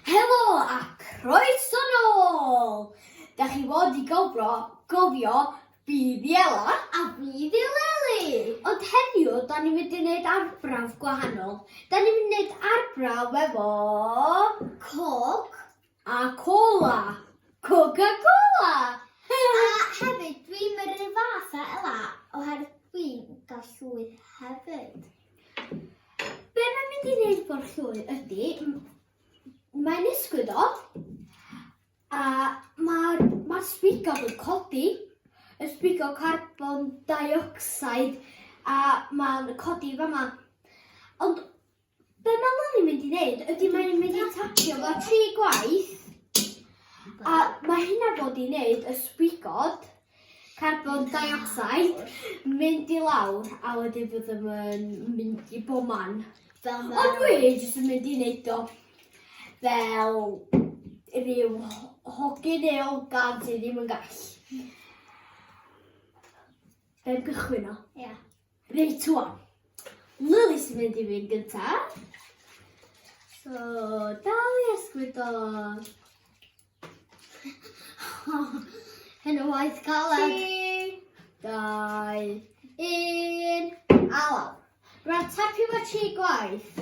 Helo a croeso nôl! Dach chi fod i gofro, gofio Bydd Iela a Bydd Eleni! Ond heddiw, da ni'n mynd i wneud arbrawf gwahanol. Da ni'n mynd i wneud arbrawf efo... Coch. A cola! Coca Cola! A hefyd, dwi'n mynd rhyw fath a Ela, oherwydd dwi'n gael llwyth hefyd. Be mae'n mynd i wneud bod llwyth ydy, mae'n ysgwyd o, a mae'r ma sbigob yn codi, y sbigob carbon dioxide, a mae'n codi fama. Ond Be mae Lily mynd i wneud ydy mae'n mynd i tapio fo tri gwaith a mae hynna fod i wneud y sbigod carbon dioxide mynd i lawr a wedyn byddwn yn mynd i bob man. Fel fel... Ond dwi jyst yn mynd i wneud o fel rhyw hogyn neu ogan sydd ddim yn gall. Fe'n cychwyn o. Ia. Reit, wan. Lily sy'n mynd i fynd gyntaf. So, dal i esgwydo. Hyn o waith galed. Tri, dau, un, alaf. Rwy'n tapio fo tri gwaith.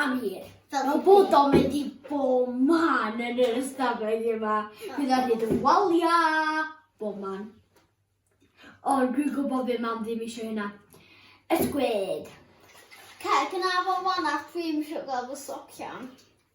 A wir, fel y bod o'n mynd i bob man yn yr ystafell yma, bydd o'n mynd yn waliau bob man. Ond dwi'n gwybod fe mam ddim eisiau hynna. Ysgwyd. Cael gynnaf o'n wanach, dwi'n eisiau gael fy socian.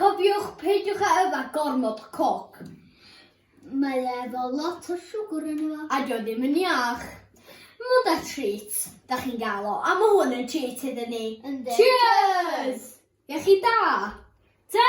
Cofiwch, peidiwch â yfed gormod o coc. Mae e efo lot o siwgr yn efo. A dio ddim yn iach. Mond a treat, da chi'n gael o, a mae hwn yn treat iddyn ni. Yndi. Cheers! Iechyd da! Ta!